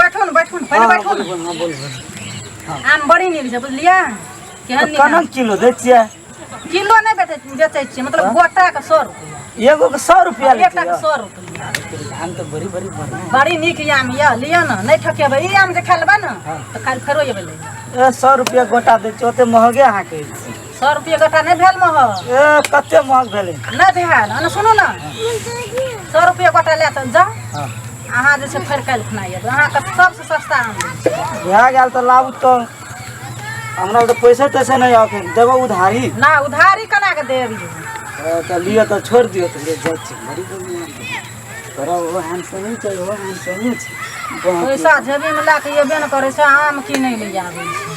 बैठो ने बैठो ने पहिले बैठो ने हाँ बोल आम बड़ी नीक छै बुझलियै केहन नीक कनक किलो दै छियै किलो नहि बेचै बेचै छियै मतलब गोटा के सौ रुपया एगो के सौ रुपया लै एकटा के छियै सौ रुपया धान तऽ बड़ी बड़ी बढ़िया बड़ी नीक ई आम यऽ लिअ ने नहि ठकेबै ई आम जे खा लेबै ने तऽ काल्हि फेरो एबै लै लए। ए सौ रुपया गोटा दै छियै ओते महगे अहाँके सए रुपये गोटा नहि भेल महग ए कते महग भेलै नहि भेल अने सुनू ने सए रुपये गोटा लए तऽ जाउ हँ। अहाँ जे छै फेर काल्हि खुना अयबै अहाँके सबसँ सस्ता आम दै छी। भए गेल तऽ लाबू तऽ हमरा तऽ पैसे तैसे नहि आके देबो उधारी ना उधारी केना के देब यौ? ए, तऽ लिअ तऽ छोड़ि दियौ तऽ ले जाइ छी बड़ी बढ़िआँ तोरा ओहो हैंडसमे छै ओहो हैंडसमे छै बाप रे। पैसा जेबीमे लए कऽ अयबे ने करै छै आम की नहि ले आबै छै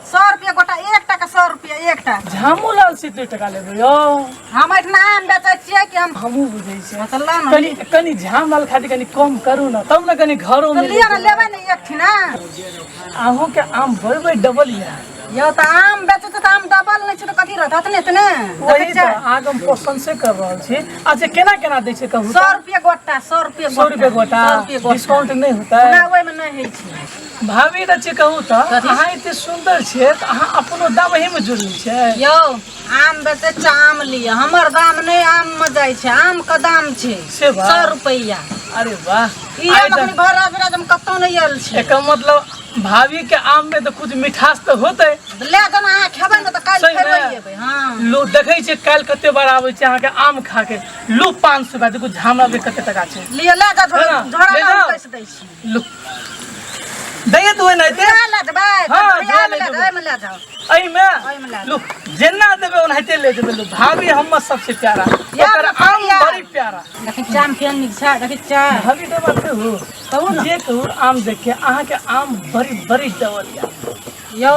सौ रुपया गोटा एक टाका सौ रुपया एकटा झामू लाल से दू टका लेबै यौ हम एहिठिना आम बेचै छियै कि हम हमहूँ बुझै छियै तऽ लऽ ने कनि कनि झाम लाल खातिर कनि कम करू ने तब ने कनि घरो तऽ लिअ ने लेबै ने एकठिना अहूँके आम बड़ बड़ डबल यऽ यौ तऽ आम बेचै छै तऽ आम डबल नहि छै तऽ कथी रहत हत नहि छै ने वही देखै तऽ छियै? अहाँके हम क्वेश्चन से कर रहल छी अच्छा केना केना दै छै कहू सौ रुपया गोटा सौ रुपया सौ रुपये गोटा सौ रुपया गोटा डिस्काउंट नहि होतै हमरा ओहिमे नहि होइ छै भाभी के छी कहू तऽ कथी? अहाँ एते सुंदर छियै तऽ अहाँ अपनो दाम एही में जुड़ल छियै यौ आम बेचे छै आम लिअ हमर दाम नहि आम मे जाइ छै आम के दाम छै से बा। सौ रुपैया अरे वाह ई आइ आम तऽ- अखन भर रात हम कतौ नहि आयल छै एकर मतलब भाभी के आम में तऽ कुछ मिठास तऽ होतै ले दन अहाँ खेबै ने तऽ काल्हि सही फेर ने? एबै हँ लोग देखै छै काल्हि कते बार आबै छै अहाँके आम खा के लू पाँच सौ का देखू झामरा के कते टका छै लिअ ले जा है ना? झोड़ा ले जाउ। कैसे दै छी दैए तू एना एते उएह लए देबै हँ, कटोरिया मे लए लए देबै। देबै, ओहिमे लए जाउ एहिमे ओहिमे लए लू जेना देबै ओनाहिते ले जेबै लू भाभी हमर सबसे प्यारा यार, ओकर आम भाभिया। बड़ी प्यारा देखी चाम केहन नीक छै देखी चाह भाभी के बात कहू कहू ने जे कहू आम देख के अहाँ के आम बड़ी बड़ी डबल या यौ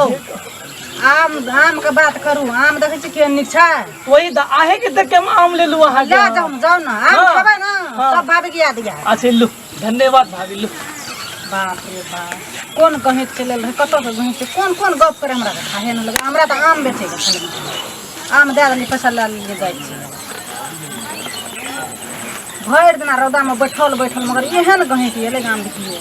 आम आम के बात करू आम देखै छी केहन नीक छै वही द आहे के देख के हम आम ले लू अहाँ के ले जाउ जाउ ने आम हाँ। खेबै ने हाँ। सब भाभी के याद यऽ अच्छा लू धन्यवाद भाभी लोग बाप रे बाप कोन गहैत चलल रहै कतऽसँ गहैत छै कोन कोन गप करे हमरा तऽ खाहे नहि लगै हमरा तऽ आम बेचैके छलै आम दए देलियै पैसा लए लेलियै जाइ छै भरि दिना रौदामे बैठल बैठल मगर एहन गहैत एलै गाम देखियै